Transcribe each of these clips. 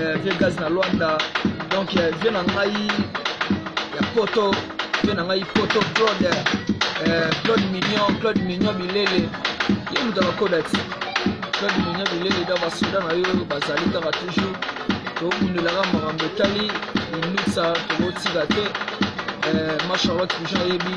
euh, vie gaz na luanda donc euh, vie na ngai ya poto vie na ngai poto claude euh, claude mignon claude mignon bilele ye moto akokoda ti claude mignon bilele da basoda na yo bazali kaka toujours tobundelaka makambo etali minutsa tokotika te ma charlotte toujours ayebi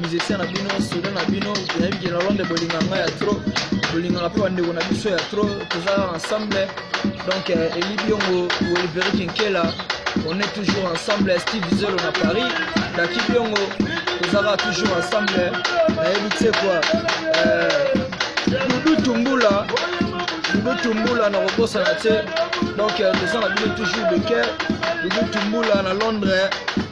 musicien na bino soda na bino nayebi ke na londre bolinga ngai ya trop bolingaka mpe bandeko na biso ya trop toza ensemble donc euh, eli biongo oliveri kinkela on est toujours ensemble steve zelo na paris daki biongo tozalaka toujours ensemble nayebi tse kua dudu tumbula dudu tumbula na kobosana te donc euh, toza na bino toujours de cœur dudu tumbula na londres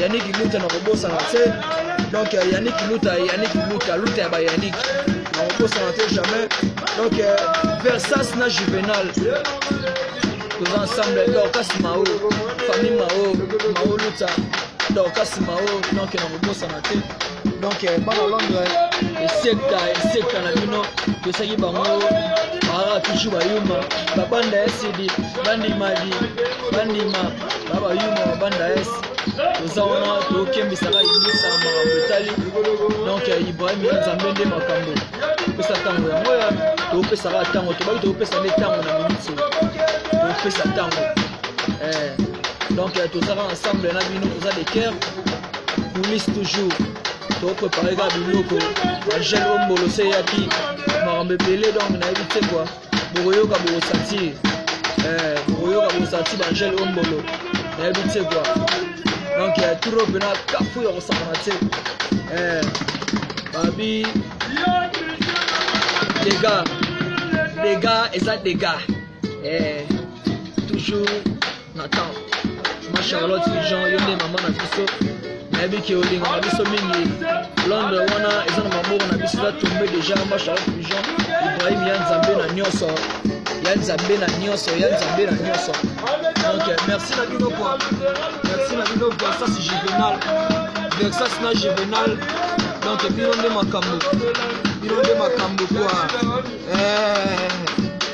Yannick Luta na kobosana te donc euh, Yannick Luta Yannick Luta Luta ya ba Yannick na kobosana te jamais donc euh, Versas na Juvenal toza ensemble Dorcas Mao famille Mao Mao Luta Dorcas Mao donc na kobosana te donc euh, bana Londres esekta esekta na bino tosaki bango aa toujours bayuma babanda ya sidi bandimadi bandima baba yuma wa banda es toza wana tokembisaka yebisa makambo etali donc ya ibrahim ya nzambe nde makambo topesa ntango yango ya topesaka ntango tobaki topesa nde ntango na miniti topesa ntango eh, donc eh, tozaka ensemble na bino toza de cœur police toujours toprepare kaka biloko bagel ombolo se eyaki makambo ebele donc nayebi te kua bokoyoka bokosatir eh, bokoyoka bokosatir bangele o mbolo nayebi te kua donc ya turo mpena kafu ya kosakana te eh, babi dega dega eza dega eh, toujours Nathan, ma Charlotte Jean, yo nde mama na biso nayebi ke olinga na biso mingi londre wana eza na maboko na biso eza tombe deja ma Charlotte Jean, Ibrahim ya Nzambe na nyonso ya Nzambe na nyonso ya Nzambe na nyonso donc merci na bino kwa merci na bino Versas Juvenal Versas na Juvenal donc bino nde makambo bino nde makambo kwa eh.